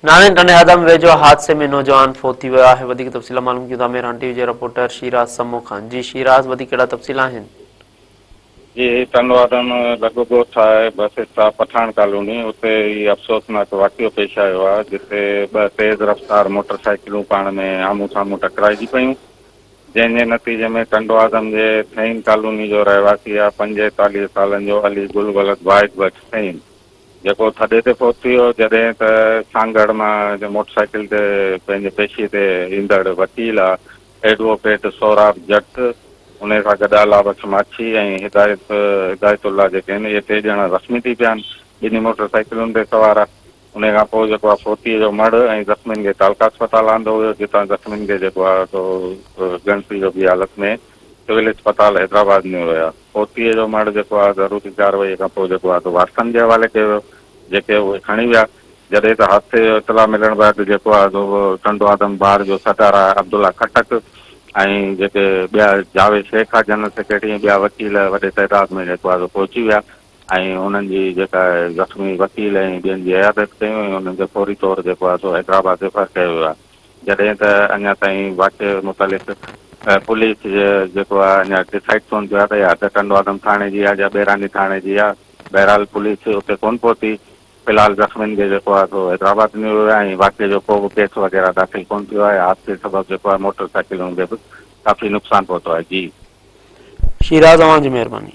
ناڻي ٽنڊي هدم ويجهو حادثي ۾ نوجوان فوت ٿي ويو آهي وڌيڪ تفصيل معلوم ڪيون ٿا ميران ٽي وي جي رپورٽر شيراز سمو کان جي شيراز وڌيڪ ڪهڙا تفصيل آهن جي ٽنڊو هدم لڳ ڳوٺ آهي بس اسٽاپ پٺاڻ ڪالوني اتي هي افسوسناڪ واقعو پيش آيو آهي جتي ٻه تيز رفتار موٽر سائيڪلون پاڻ ۾ آمهون سامهون ٽڪرائجي پيون جنهن جي نتيجي ۾ ٽنڊو هدم جي ٿهين ڪالوني جو رهواسي آهي پنجيتاليهه سالن جو علي گل ولد واحد بخش ٿهين جيڪو ٿڏي تي فوت ٿي ويو، جڏهن ته سانگهڙ مان موٽر سائيڪل تي پنهنجي پيشي تي ايندڙ وڪيل ايڊووڪيٽ سهراب جٽ، انهي سان گڏ الله بخش ماڇي ۽ هدايت هدايت الله جيڪي آهن اهي ٽي ڄڻا زخمي ٿي پيا آهن، ٻنهي موٽر سائيڪلن تي سوار هئا، انهي کان پوء جيڪو آهي فوتيء جو مڙهه ۽ زخمين کي تعلقه اسپتال آندو ويو، جتان زخمين کي جيڪو آهي سو ڳڻتي جوڳي حالت ۾ سول اسپتال حيدرآباد ۾ هيا. فوتيء جو مڙهه جيڪو آهي ضروري ڪارروائيء کان پوء جيڪو آهي سو وارثن جي حوالي ڪيو ويو، جيڪي اهي کڻي ويا. جڏهن ته حادثي جو اطلاع ملڻ بعد جيڪو آهي سو ٽنڊو آدم بار جو سردار آهي عبدالله خٽڪ ۽ جيڪي ٻيا جاويد شيخ آهي جنرل سيڪريٽري ۽ ٻيا وڪيل وڏي تعداد ۾ جيڪو آهي سو پهچي ويا ۽ انهن جي جيڪا آهي زخمي وڪيل ۽ ٻين جي عيادت ڪيون ۽ انهن کي فوري طور جيڪو آهي سو حيدرآباد ريفر ڪيو ويو آهي. جڏهن ته اڃا تائين واقعي متعلق پوليس جيڪو آهي اڃا ڊسائيڊ ڪون ٿيو آهي ته اها حد ٽنڊوآدم ٿاڻي جي آهي يا ٻيراني ٿاڻي جي آهي بهرحال پوليس اتي ڪون پهتي في الحال زخمين کي جيڪو آهي سو حيدرآباد نيو ويو آهي ۽ واقعي جو ڪو به ڪيس وغيره داخل ڪون ٿيو آهي حادثي سبب جيڪو آهي موٽر سائيڪلن کي به ڪافي نقصان پهتو آهي جي شيراز اوهان جي مهرباني.